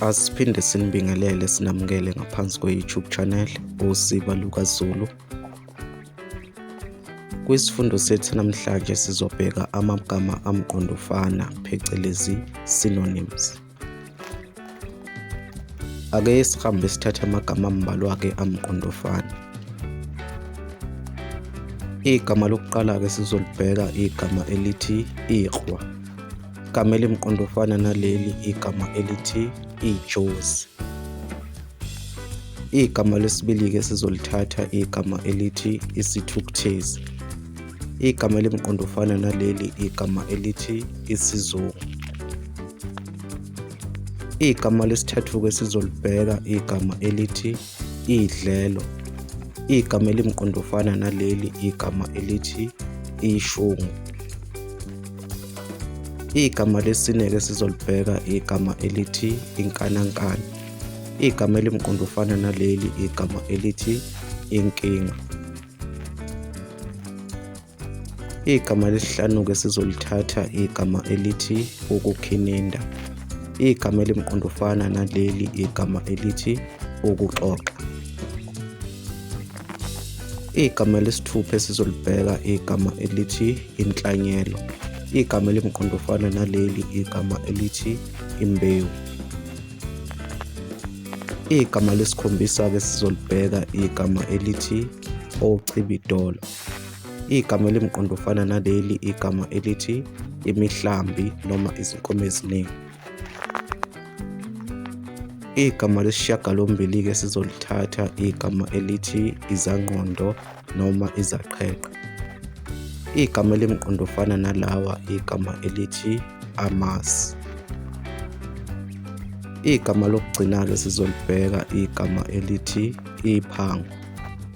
Asiphinde sinibingelele sinamukele ngaphansi kwe-YouTube channel uSiba LukaZulu. Kwisifundo sethu namhlanje sizobheka amagama amqondofana phecelezi synonyms. Ake sihambe sithathe amagama ambalwa ke amqondofana. Igama lokuqala ke sizolibheka igama elithi iqhwa. Igama elimqondofana naleli igama elithi ijozi. Igama lesibili-ke esizolithatha igama elithi isithukuthezi. Igama elimqondofana naleli igama elithi isizungu. Igama lesithathu-ke esizolibheka igama elithi idlelo. Igama elimqondofana naleli igama elithi ishungu. Igama lesineke sizolibheka igama elithi inkanankana. Igama elimqondofana naleli igama elithi inkinga. Igama lesihlanu-ke sizolithatha igama elithi ukukhininda. Igama elimqondofana naleli igama elithi ukuxoxa. Igama lesithupha esizolibheka igama elithi inhlanyelo. Igama elimqondo ofana naleli igama elithi imbewu. Igama lesikhombisa-ke sizolibheka igama elithi ochibidolo. Igama elimqondo ofana naleli igama elithi imihlambi noma izinkomo eziningi. Igama lesishiyagalombili-ke sizolithatha igama elithi izangqondo noma izaqheqhe. Igama elimqondofana nalawa igama elithi amasi. Igama lokugcina-ke sizolibheka igama elithi iphango.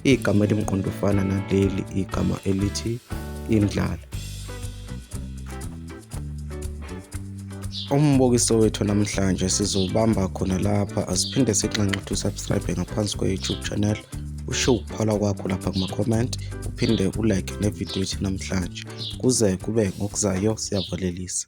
Igama elimqondofana naleli igama elithi indlala. umbukiso wethu namhlanje sizobamba khona lapha asiphinde sixanxe ukuthi usubscribe ngaphansi kwe-youtube channel usho ukuphala kwakho lapha kuma-comment uphinde ulike nevidiyo yethu namhlanje kuze kube ngokuzayo siyavalelisa